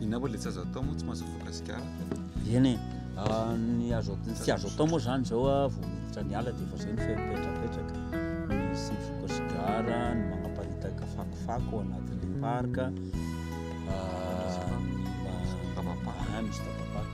Inona moa ilay tsy azo atao moa tsy mahazo voka sigara? Eny e, ah, ny azo ny tsy azo atao moa zany zao ah, vao miditra ny ala dia efa zay ny fipetrapetraka, ny sy voka sigara, ny manaparitaka fakofako ao anatin'ilay parka, ah, ny ma- Tabapaka. ah, misy tabapaka.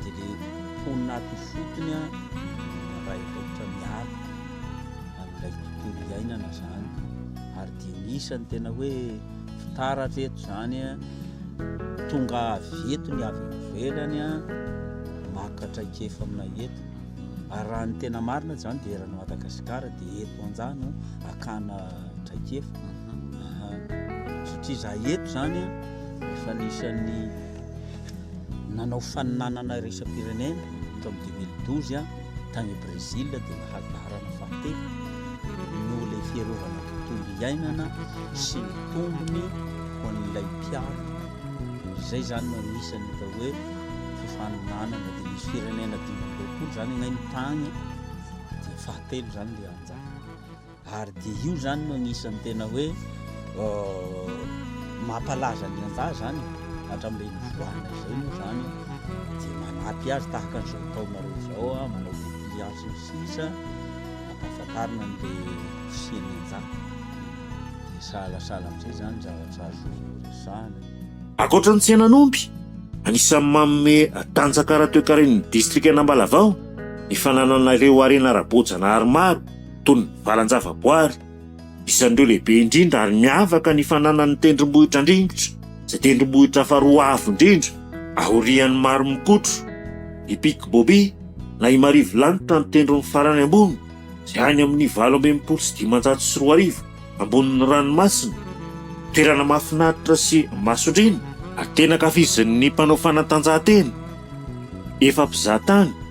dia le mponina ato ifotony an, raha efa ohatra miaritra amin'ilay tontolo iainana izany, ary dia misy ny tena hoe fitaratra eto izany an, tonga avy eto ny avy ivelany an, maka traikefa amina eto, ary raha ny tena marina izany dia eran'i Madagasikara dia eto anja no akana traikefa, satria za eto izany an, efa anisan'ny nanao faninanana iraisam-pirenena tamin'ny deux mille douze tany Brésil dia nahazo laharana fahatelo noho ilay fiarovana ny tontolo iainana sy ny tombony ho an'ilay mpiaro izay izany no anisan'ny atao hoe faninanana dia misy firenena dimy amby roapolo izany anay ny tany dia fahatelo izany dia anjara Ary dia io izany no anisan'ny tena hoe mampalaza ny andahy izany hatramin'ilay nivoahana izay moa izany dia manampy azy tahaka an'izao taonareo izao a manao bouclier sy ny sisa ampahafantarina an'ilay fisian'ny andahy dia sahalasala amin'izay izany zavatra azo resahana Ankoatra ny tsenan'omby, anisan'ny manome tanjaka ara-toekaren'ny distrikan'Ambalavao ny fananana ireo harena ara-boajanahary maro toy ny valan-javaboary, isan'ireo lehibe indrindra ary miavaka ny fananan'ny tendrombohitra Andringitra, izay tendrombohitra faharoa avo indrindra aorian'i Maromokotro, ny Pic Boby na i Marivolanitra ny tendrony farany ambony, izay any amin'ny valo amby enimpolo sy dimanjato sy roa arivo ambonin'ny ranomasina. Toerana mahafinaritra sy masondriana. Tena ankafizin'ny mpanao fanatanjahantena, efa mpizahatany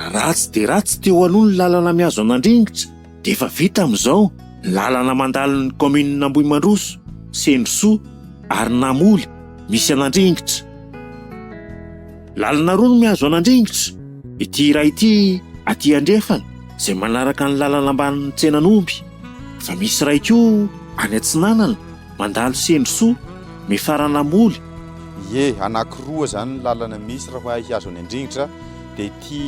Ratsy dia ratsy teo aloha ny lalana mihazo an'Andringitra dia efa vita amin'izao ny lalana mandalo ny kaominina Ambohimandroso, Sendrosoa ary Namoly misy an'Andringitra. Lalana roa no mihazo an'Andringitra, ity iray ity aty andrefana izay manaraka ny lalana ambanin'ny tsenan'omby, fa misy iray koa any atsinanana. Mandalo sendry soa, mifarana moly. Ie, anaky roa izany ny lalana misy raha hay hihazo any an-dringitra dia ity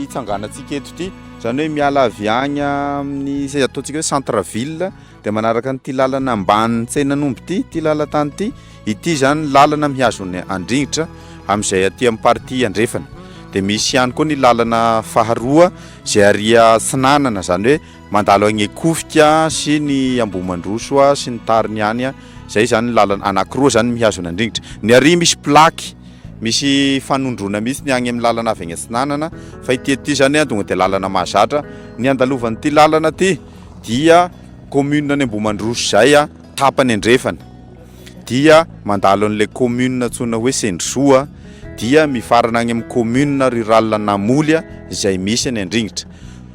hitsanganantsika eto ity. Izany hoe miala avy agny amin'ny izay ataontsika hoe centre ville dia manaraka an'ity lalana ambanin'ny tsenan'omby ity, ity lalan-tany ity. Ity izany ny lalana mihazo ny an-dringitra amin'izay aty amin'ny partie andrefana. Dia misy ihany koa ny lalana faharoa izay aria atsinanana, izany hoe Mandalo agny Ekofika sy ny Ambohimandroso sy ny tariny any a, zay zany ny lalana, anakiroa zany mihazona an-drignitra. Ny ary misy plaque, misy fanondroana mihitsy ny agny amin'ny lalana avy agny atsinanana, fa ity aty zany a tonga dia lalana mahazatra. Ny andalovan'ity lalana ty dia commune ny Ambohimandroso zay a, tapany andrefana dia mandalo an'ilay commune antsoina hoe Sendrisoa dia mifarana agny amin'ny commune rurale Namoly a, zay misy any an-drignitra.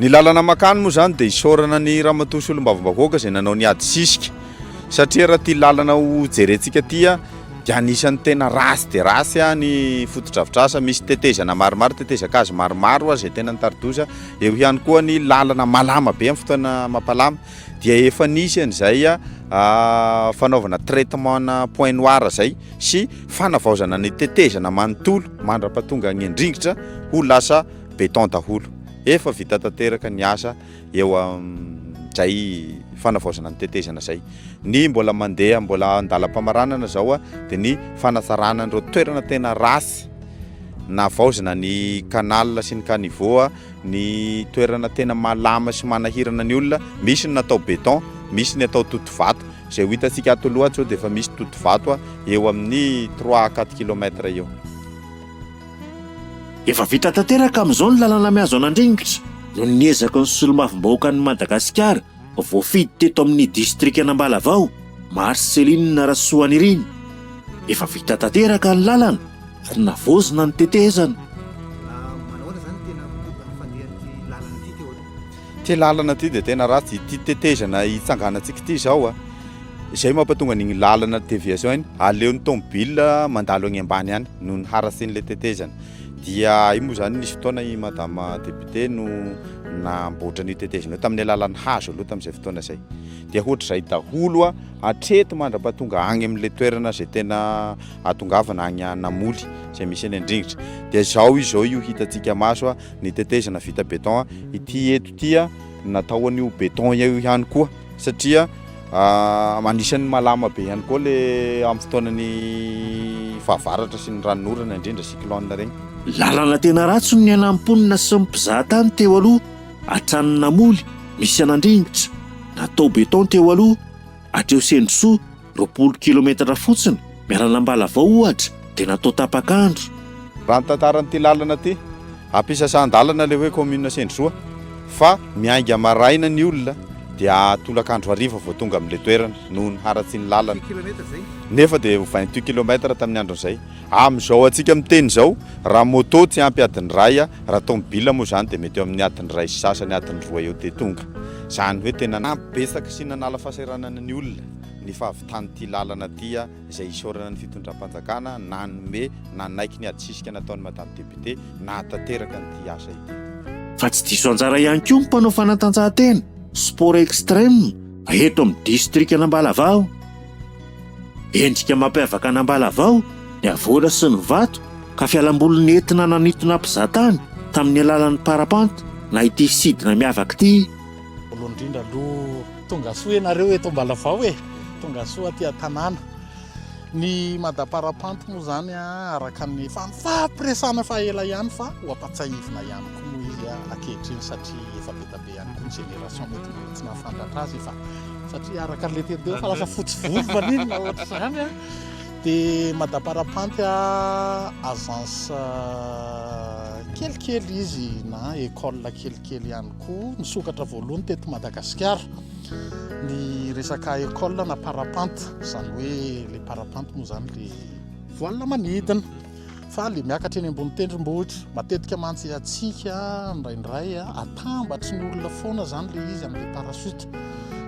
Ny lalana mankany moa izany dia isaorana an'i Ramatoa Solombavambahoaka izay nanao ny ady sisika satria raha ity lalana ho jerentsika ity dia anisan'ny tena ratsy dia ratsy ny fotodrafitrasa, misy tetezana maromaro, tetezan-kazo maromaro ary izay tena nitari-doza. Eo ihany koa ny lalana malama be amin'ny fotoana mapalama dia efa nisy an'izay fanaovana traitement point noir izay sy fanavaozana ny tetezana manontolo mandra-pahatonga an'i Andringitra ho lasa beton daholo. Efa vita tanteraka ny asa eo amin'izay fanavaozana ny tetezana izay. Ny mbola mandeha mbola an-dalam-pamaranana izao dia ny fanatsarana an'ireo toerana tena ratsy navaozina ny canal sy ny caniveau, ny toerana tena malama sy manahirana ny olona, misy ny natao beton, misy ny atao totovato. Izay ho hitantsika ato aloha ato izao dia efa misy totovato eo amin'ny trois à quatre kilomètres eo. Efa vita tanteraka amin'izao ny lalana mihazo an'Andringitra noho ny ezaky ny solombavambahoakan'i Madagasikara voafidy teto amin'ny distrikan'Ambalavao, Marcelline Rasoanirina. Efa vita tanteraka ny lalana ary navaozina ny tetezana. Ty lalana ty dia tena ratsy, ity tetezana hitsanganantsika ity izao a, izay mampatonga an'iny lalana déviation iny, aleo ny tomobile mandalo any ambany any noho ny harasin'ilay tetezana, dia io moa izany nisy fotoana i madame député no namboatra an'io tetezana io tamin'ny alalan'ny hazo aloha tamin'izay fotoana izay, dia hoatr'izay daholo a, hatreto mandra-pahatonga any amin'ilay toerana izay tena atongavana any Namoly izay misy an'i Andringitra, dia izao izao io hitantsika maso a. ny tetezana vita beton ity eto ity a natao an'io beton eo ihany koa satria anisan'ny malama be ihany koa le amin'ny fotoanan'ny fahavaratra sy ny ranonorana indrindra cyclone regny lalana tena ratsy ny niainam-ponina sy ny mpizahatany teo aloha hatrany namoly misy an'andrimbitra natao beton teo aloha hatreo sendrosoa Roapolo kilometatra fotsiny miaran'Ambalavao ohatra dia natao tapak'andro. Raha ny tantaran'ity lalana ity, ampisasan-dalana ilay hoe commune Sendrosoa fa miainga maraina ny olona dia tolak'andro hariva vao tonga amin'ilay toerana noho ny haratsian'ny lalana. Nefa dia ho vingt-huit kilometatra tamin'ny andron'izay. Amin'izao antsika miteny izao, raha moto tsy ampy adiny iray, raha tomobila moa izany dia mety eo amin'ny adiny iray sy sasany, adiny roa eo dia tonga. Izany hoe tena nampibetsaka sy nanala fahasahiranana ny olona. ny fahavitan'ity lalana ity izay isaorana ny fitondram-panjakana nanome nanaiky ny adisisika nataon'i Madame Député nahatanteraka an'ity asa ity. Fa tsy diso anjara ihany koa ny mpanao fanatanjahantena, sport extreme, eto amin'ny distrikan'Ambalavao. Endrika mampiavaka an'Ambalavao ny havoana sy ny vato ka fialamboly nentina nanintona mpizahatany tamin'ny alalan'ny parapente na ity sidina miavaka ity. Voalohany indrindra aloha tongasoa ianareo eto Ambalavao e, tongasoa aty an-tanàna. Ny madaparapanty moa izany araka ny efa nifampiresahana fa ela ihany fa ho ampatsahivina ihany koa moa izy ankehitriny satria efa be dia be ihany koa ny génération mety mbola tsy nahafandratra azy fa satria araka an'ilay teny teo fa lasa fotsy volo maninona ohatra izany a. Dia madaparapanty agence kelikely izy na école kelikely ihany koa nisokatra voalohany teto Madagasikara ny resaka école na parapente izany hoe le parapente moa izany le voile manidina fa le miakatra eny ambony tendrombohitra matetika mantsy hatsika indraindray atambatry ny olona foana izany le izy amin'le parachute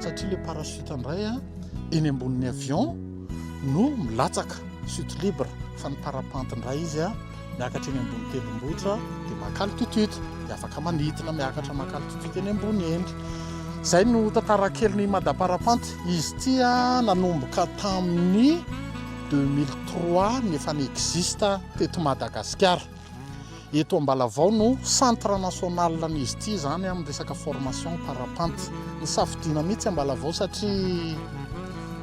satria le parachute indray a eny ambonin'ny avion no milatsaka chute libre fa ny parapente indray izy a Miakatra eny ambony tendrombohitra dia maka altitude dia afaka manidina miakatra maka altitude eny ambony eny. Izay no tantara kelin'i Madame Parapente. Izy ity nanomboka tamin'ny 2003 ny efa n'existe teto Madagasikara. Eto Ambalavao no centre national n'izy ity izany amin'ny resaka formation parapente. Ny safidiana mihitsy Ambalavao satria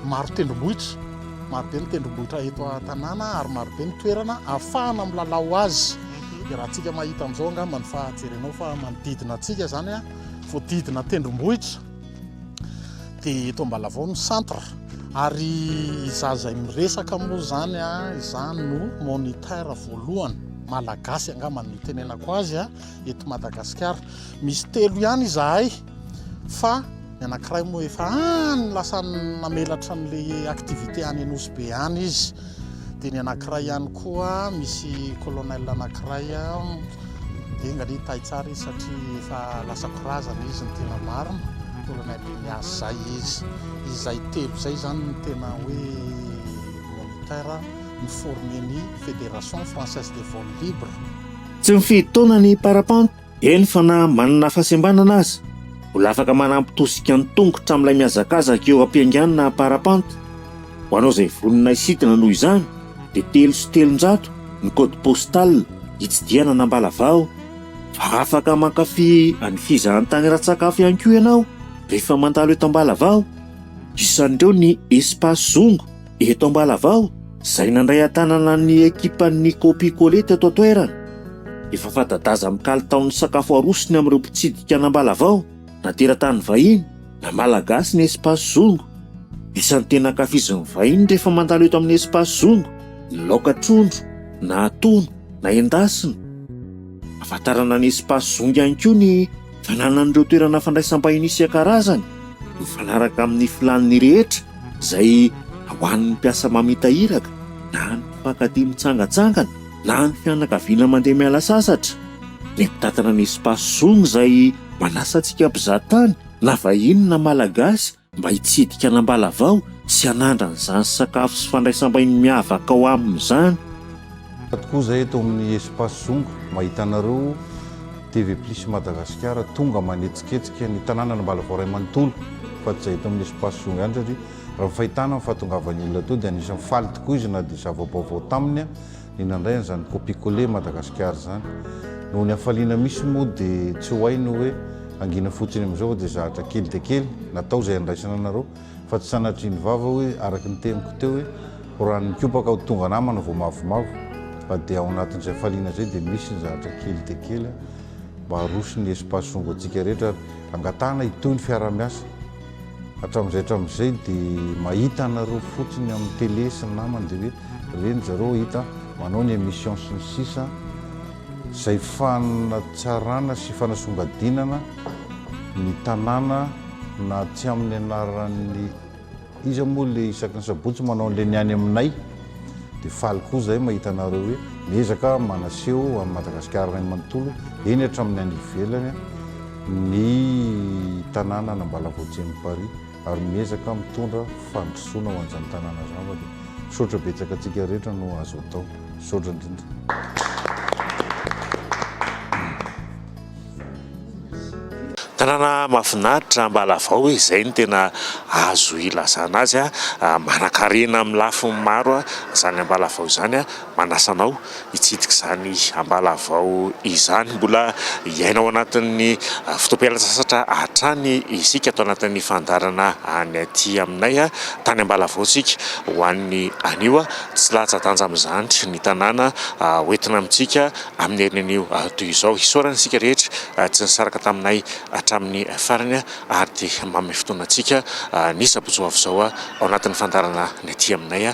maro tendrombohitra. Marobe ny tendrombohitra eto an-tanàna ary marobe ny toerana ahafahana milalao azy. Dia raha antsika mahita amin'izao angamba ny fahajerenao fa manodidina antsika izany voadidina tendrombohitra. Dia eto Ambalavao ny centre ary izaho izay miresaka moa izany izany no moniteur voalohany malagasy angamba no itenenako azy eto Madagasikara. Misy telo ihany izahay. Fa ny anankiray moa efa any lasa namelatra an'ilay activité any Anosy be any izy. Dia ny anankiray ihany koa misy colonel anankiray dia enga anie tay tsara izy satria efa lasa korazana izy ny tena marina colonel Ignace zay izy. Izay telo izay izany ny tena hoe moniteur ny former ny Fédération Française des Vols Libres. Tsy mifidy taona ny parapente. Eny fa na manana fahasembanana aza, mbola afaka manampy tosika an-tongotra amin'ilay mihazakazaka eo am-pianganana na parapente. Ho anao izay vonona hisidina noho izany dia telo sy telonjato ny code postal hitsidihana an'Ambalavao. Fa afaka mankafy an'i Fizahantany Ratsakafo ihany koa ianao rehefa mandalo eto Ambalavao. Isan'ireo ny Espace Zongo. Eto Ambalavao, izay nandray an-tanana ny ekipan'ny Copicolet teto an-toerana, efa fanta-daza amin'ny kalitaon'ny sakafo arosony amin'ireo mpitsidika an'Ambalavao, na teratany vahiny, na Malagasy ny Espace Zongo. Isan'ny tena ankafizin'ny vahiny rehefa mandalo eto amin'ny Espace Zongo ny laoka trondro, na atono, na endasina. Ahafantarana ny Espace Zongo ihany koa ny Fananan'ireo toerana fandraisam-bahiny isan-karazany mifanaraka amin'ny filàn'ny rehetra izay ho an'ny mpiasa mamita iraka na ny mpifankatia mitsangantsangana na ny fianakaviana mandeha miala sasatra. Ny mpitantana ny Espace Zong izay manasa antsika mpizahatany na vahiny na Malagasy mba hitsidika an'Ambalavao sy hanandra an'izany sakafo sy fandraisam-bahiny miavaka ao aminy izany. Ato koa zay eto amin'ny Espace Zongo no ahitanareo TV Plus Madagasikara tonga manetsiketsika ny tanànan'Ambalavao iray manontolo fa tsy zay eto amin'ny Espace Zongo ihany satria raha ny fahitana ny fahatongavan'ny olona teo dia anisan'ny faly tokoa izy na dia zava-baovao taminy Ny nandray an'izany copicoler Madagascar izany. Noho ny hafaliana misy moa dia tsy ho hay ny hoe hangina fotsiny amin'izao dia zahatra kely dia kely natao izay handraisana anareo fa tsy sanatrian'ny vava hoe araka ny teniko teo hoe ho ran'ny kopaka ho tonga namana vao mavomavo fa dia ao anatin'izay hafaliana izay dia misy ny zahatra kely dia kely mba haroso ny espace songo antsika rehetra ary angatahana hitohy ny fiarahamiasa Hatramin'izay hatramin'izay dia mahita anareo fotsiny amin'ny télé sy ny namany dia hoe reny zareo hita manao ny émission sy ny sisa izay fanatsarana sy fanasongadinana ny tanàna na tsy amin'ny anaran'ny iza moa ilay isaky ny sabotsy manao an'ilay ny any aminay dia faly koa izahay mahita anareo hoe miezaka manaseho an'i Madagasikara iray manontolo eny hatramin'ny any ivelany ny tanàna an'Ambalavaojian'i Paris ary miezaka mitondra fandrosoana ho an'izany tanàna izany fa dia misaotra betsaka antsika rehetra no azo atao. Misaotra indrindra. Tanàna mahafinaritra Ambalavao e, izay no tena azo ilazana azy, manankarena amin'ny lafiny maro izany Ambalavao izany Manasa anao hitsidika izany ambalavao izany. Mbola hiaina ao anatin'ny fotoam-pialantsasatra hatrany isika ato anatin'ny fandaharana any aty aminay. Tany Ambalavao isika ho an'ny anio. Tsy latsa-danja amin'izany ny tanàna ho entina amintsika amin'ny herin'anio toy izao. Isaorana isika rehetra tsy nisaraka taminay hatramin'ny farany ary dia manome fotoana antsika ny sabotsy ho avy izao ao anatin'ny fandaharana ny aty aminay.